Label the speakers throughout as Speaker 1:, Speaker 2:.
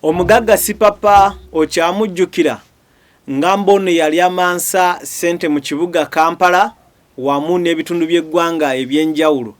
Speaker 1: omugagga sipapa okyamujjukira nga mbono yali amansa ssente mu kibuga kampala wamu n'ebitundu by'eggwanga eby'enjawulo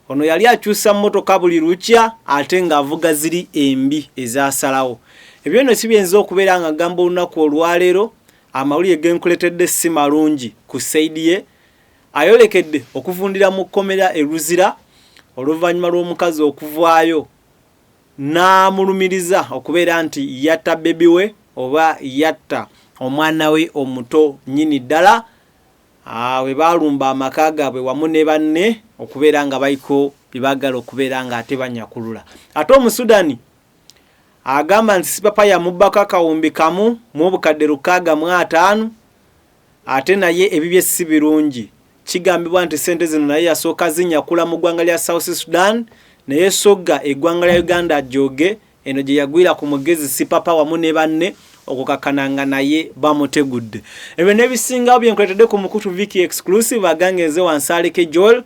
Speaker 1: ono yali akyusa mmotoka buli lukya ate ng'avuga ziri embi ezasalawo ebyo no si byinza okubeera nga gamba olunaku olwaleero Amawulire genkuletedde ssi malungi ku side ye ayolekedde okuvundira mu kkomera e Luzira oluvanyuma lw'omukazi okuvaayo n'amulumiriza okubeera nti yatta bbebi we oba yatta omwana we omuto nnyini ddala bwe ah, baalumba amaka gaabwe wamu ne banne okubeera nga baliko bye baagala okubeera ng'ate banyakulula ate omusudani Agamba nti Sipapa yamubbako akawumbi kamu mu obukadde lukaaga mu ataano ate naye ebibye si birungi. Kigambibwa nti ssente zino naye yasooka zinyakula mu ggwanga lya South Sudan naye Sogga eggwanga lya Uganda ajooge eno gye yagwira ku mugezi Sipapa wamu ne banne okukakkana nga naye bamutegudde. Ebyo n'ebisingawo bye nkuleetedde ku mukutu Vicky Exclusive agange nze Wansalike Joel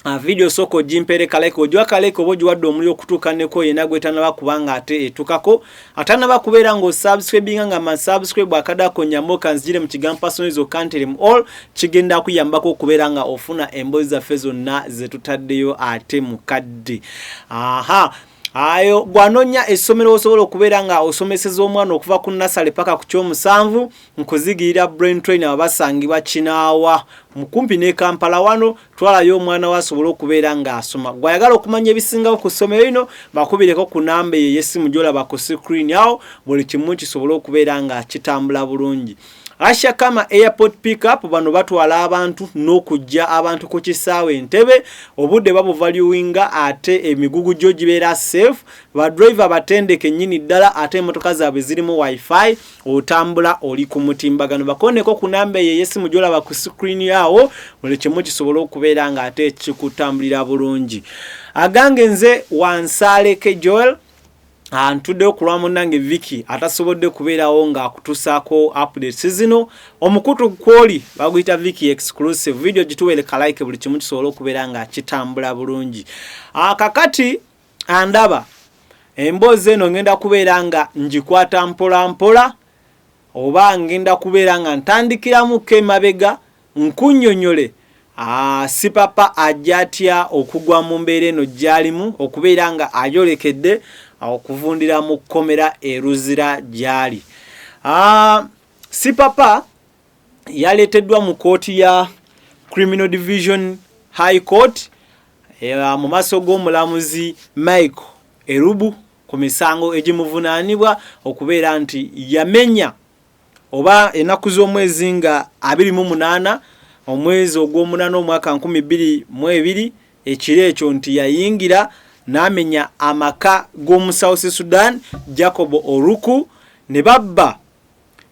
Speaker 1: Ah, video soko ogimpere kaleke ogiwa kaleke oba ogiwadde omuli okutuuka neko yena gwetanaba kubanga ate etukako atanaba kubeera nga osubscribinga nga masubscribe akadako nyamoka nzijire mu kigambo personal zo kanterem all kigenda kuyambako okubeera nga ofuna embozi zaffe zonna zetutaddeyo ate mukadde aha ayo gwanonya esomero osobola okubeera nga osomeseza omwana okuva ku nasale paka ku kyomusanvu nkuzigirira brain train abasangibwa kinaawa mukumpi ne kampala wano twalayo omwana we asobole okubeera ng'asoma gwe ayagala okumanya ebisingawo ku ssomero lino bakubireko ku namba eyo ey'essimu gyolaba ku sikrini awo buli kimu kisobole okubeera nga kitambula bulungi Asha Kama Airport Pickup bano batwala abantu n'okujja abantu ku kisaawe entebe obudde babuvaluwinga ate emigugu gyo gibeera safe badrive abatendeke nnyini ddala ate emmotoka zaabwe zirimu wifi otambula oli ku mutimbagano bakoneko ku namba eyo eyesimu gyolaba ku screen yawo buli kimu kisobola okubeera nga ate kikutambulira bulungi agange nze wansaaleke joel antuddeyo ku lwa munnange viki atasobodde kubeerawo ng'akutusaako updates zino omukutu kwoli baguyita viki exclusive video gituweereka like buli kimu kisobola okubeera nga kitambula bulungi akakati ah, andaba emboozi eno ngenda kubeera nga ngikwata mpola mpola oba ngenda kubeera nga ntandikiramuko emabega nkunyonyole ah, sipapa ajja atya okugwa mu mbeera eno gyalimu okubeera nga ayolekedde ah, okuvundira mu kkomera eruzira gyali ah, sipapa yaleeteddwa mu kooti ya criminal division high court Eh, mu maaso g'omulamuzi Michael Erubu ku misango egimuvunaanibwa okubeera nti yamenya oba ennaku z'omwezi nga abiri mu munaana omwezi ogw'omunaana omwaka nkumi bbiri mu ebiri ekiro ekyo nti yayingira n'amenya amaka g'omu south sudan jacob oruku ne babba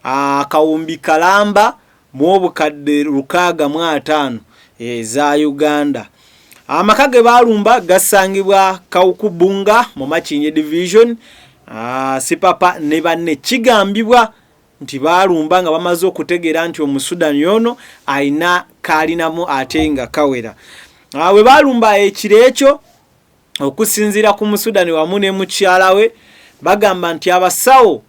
Speaker 1: akawumbi kalamba mu obukadde lukaaga mu ataano eza uganda amaka ge baalumba gasangibwa kawukubunga mu makinye division ah, sipapa ne banne kigambibwa nti baalumba nga bamaze okutegeera nti omusudani ono alina kaalinamu ate nga kawera ah, bwe baalumba ekiro ekyo okusinziira ku musudani wamu ne mukyala we bagamba nti abasawo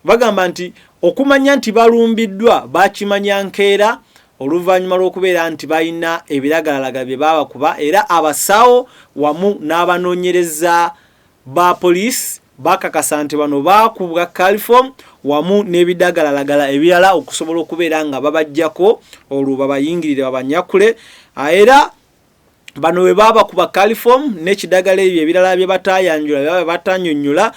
Speaker 1: bagamba nti okumanya nti balumbiddwa bakimanya nkeera oluvannyuma lw'okubeera nti balina ebiragalalaga bye baabakuba era abasawo wamu n'abanoonyereza ba poliisi bakakasa nti bano baakubwa califom wamu n'ebidagalalagala ebirala okusobola okubeera nga babajjako olwo babayingirire babanyakule era bano bwe babakuba caliform n'ekidagala ebyo ebirala bye bataayanjula bye baba batanyonyola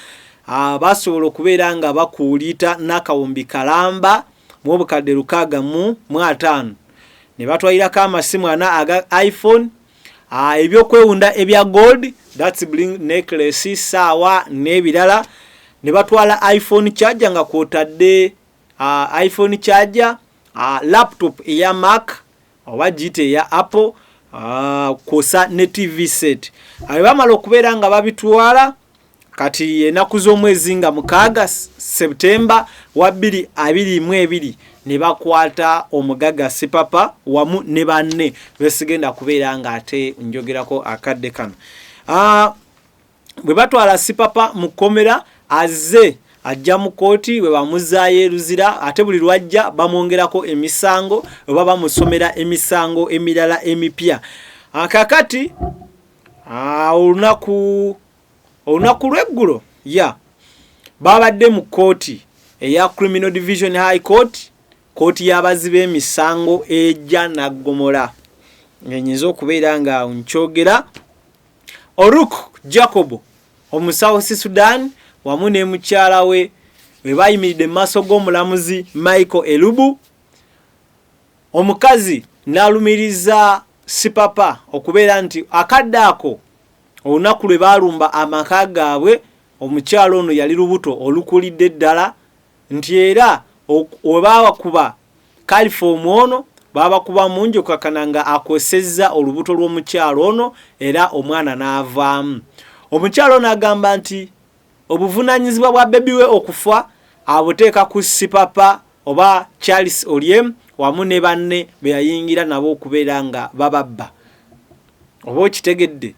Speaker 1: ah, basobola okubeera nga bakuuliita n'akawumbi kalamba mu obukadde lukaaga mu mu ataano ne batwalirako amasimu ana aga iphone ah, ebyokwewunda ebya gold thats bling necklace saawa n'ebirala ne batwala iphone charger nga kwotadde ah, iphone charger laptop eya mark oba giyita eya apple ah, kwosa ne tv set abe bamala okubeera nga babitwala kati enaku z'omwezi nga mukaaga septemba wa bbiri abiri mu ebiri ne bakwata omugaga sipapa wamu ne banne besigenda kubeera nga ate njogerako akadde kano ah, bwe batwala sipapa mu kkomera azze ajja mu kkooti bwe bamuzaayo eruzira ate buli lwajja bamwongerako emisango oba bamusomera emisango emirala emipya ah, kakati ah, olunaku olunaku lweggulo ya babadde mu kkooti eya criminal division high court kkooti y'abazi b'emisango ejja naggomola ngenyinza okubeera nga nkyogera Oruk Jacobo omusawusi Sudan wamu ne mukyala we we bayimiridde mu maaso g'omulamuzi Michael Elubu omukazi n'alumiriza sipapa okubeera nti akadde ako olunaku lwe baalumba amaka gaabwe omukyala ono yali lubuto olukulidde ddala nti era webaabakuba kalifoomu ono baabakuba mungi okukakana nga akosezza olubuto lw'omukyalo ono era omwana n'avaamu omukyalo ono agamba nti obuvunanyizibwa bwa bebi we okufa abuteeka ku sipapa oba charles olyem wamu ne banne beyayingira nabo okubeera nga bababba oba okitegedde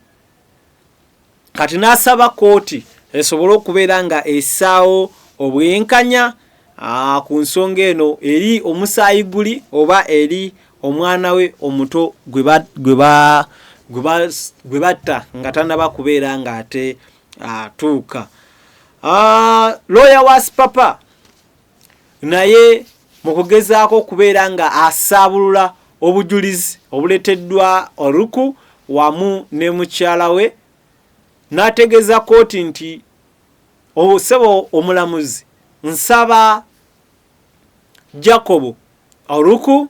Speaker 1: kati n'asaba kkooti esobole okubeera nga esaawo obwenkanya ah, ku nsonga eno eri omusaayi guli oba eri omwana we omuto gwe batta nga tanaba kubeera ng'ate atuuka ah, looya wa sipapa naye mu kugezaako okubeera nga asaabulula obujulizi obuleteddwa oluku wamu ne mukyala we n'ategeeza kooti nti osebo omulamuzi nsaba jacobo oluku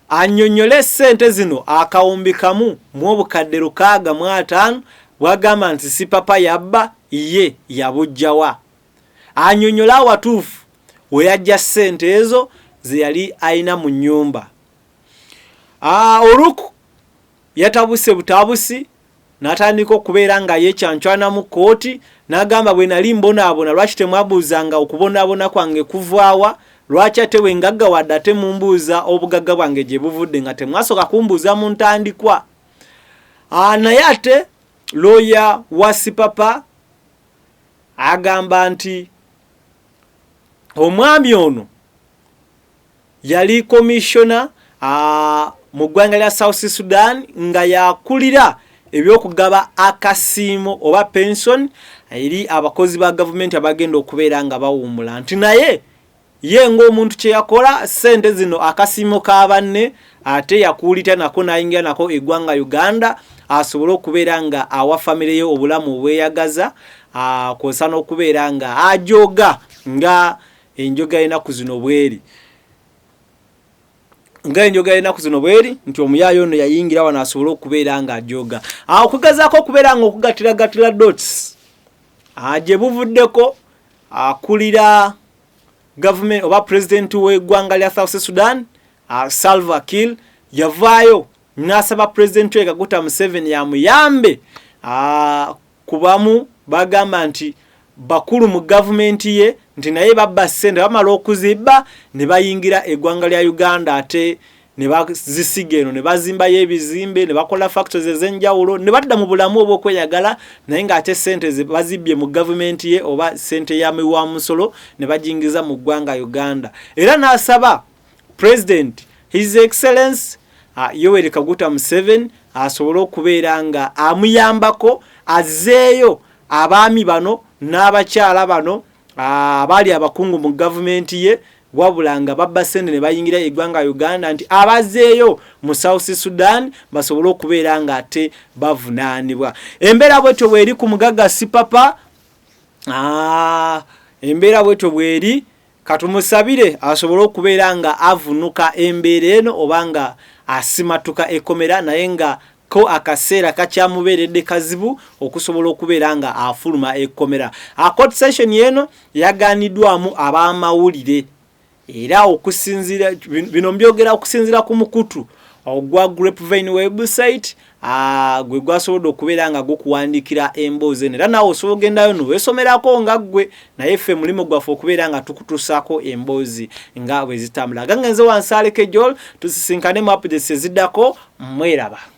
Speaker 1: anyonyole sente zino akawumbi kamu mu obukadde lukaaga mu ataano bwagamba nti sipapa yabba ye yabujjawa anyonyola awatuufu weyajja sente ezo zeyali ayina mu nyumba ah, oluk yatabuse butabusi natandika okubeera nga yekyancwanamu kooti nagamba bwenali mbonaabona lwaki temwabuuzanga okubonaabona kwange kuvaawa lwaki ate wengagga wadde ate mumbuuza obugagga bwange gye buvudde nga temwasoka kumbuuza mu ntandikwa ah, naye ate looya wa sipapa agamba nti omwami ono yali komishona mu ggwanga lya south sudan nga yakulira ebyokugaba akasiimo oba pension eri abakozi ba gavumenti abagenda okubeera nga bawummula nti naye Ye ng'omuntu kye yakola ssente zino akasiimo ka banne ate yakuulita nako n'ayingira nako eggwanga Uganda asobole okubeera nga awa famire ye obulamu obweyagaza kw'osa n'okubeera nga ajooga nga enjoga y'ennaku zino bweri nga enjoga y'ennaku zino bweri nti omuyaayo ono yayingira wano asobole okubeera nga ajooga okugezaako okubeera nga okugatiragatira dots gye buvuddeko Akulira government oba president we gwanga lya South Sudan uh, Salva Kiir yavayo nasaba president we Kaguta Museveni ya muyambe uh, kubamu bagamba nti bakulu mu government ye nti naye babba sente bamala okuzibba ne bayingira egwanga lya Uganda ate ne bazisiga eno ne bazimbayo ebizimbe ne bakola factories ez'enjawulo ne badda mu bulamu obw'okweyagala naye ng'ate ssente ze bazibbye mu gavumenti ye oba ssente ya miwa musolo ne bajingiza mu ggwanga uganda era n'asaba president his excellence uh, yoweri kaguta museven asobole okubeera nga amuyambako azzeeyo abaami bano n'abakyala bano abaali abakungu mu gavumenti ye wabula nga babba sente ne bayingira eggwanga Uganda nti abazeeyo mu South Sudan basobole okubeera nga ate bavunaanibwa embeera bwetyo bweri ku mugagga sipapa ah, embeera bwetyo bweri katumusabire asobole okubeera nga avunuka embeera eno oba nga asimatuka ekomera naye nga ko akaseera kakyamubeeredde kazibu okusobola okubeera nga afuluma ekkomera akot session eno yaganiddwamu ab'amawulire era okusinzira bino mbyogera okusinzira ku mukutu ogwa grapevine website ah, gwe gwasobodde okubeera nga gukuwandikira emboozi eno era naawe osobola ogendayo no wesomerako nga ggwe naye ffe mulimu gwaffe okubeera nga tukutusaako emboozi nga bwe zitambula gange nze wansaalekejool tusisinkane mu apdesi eziddako mweraba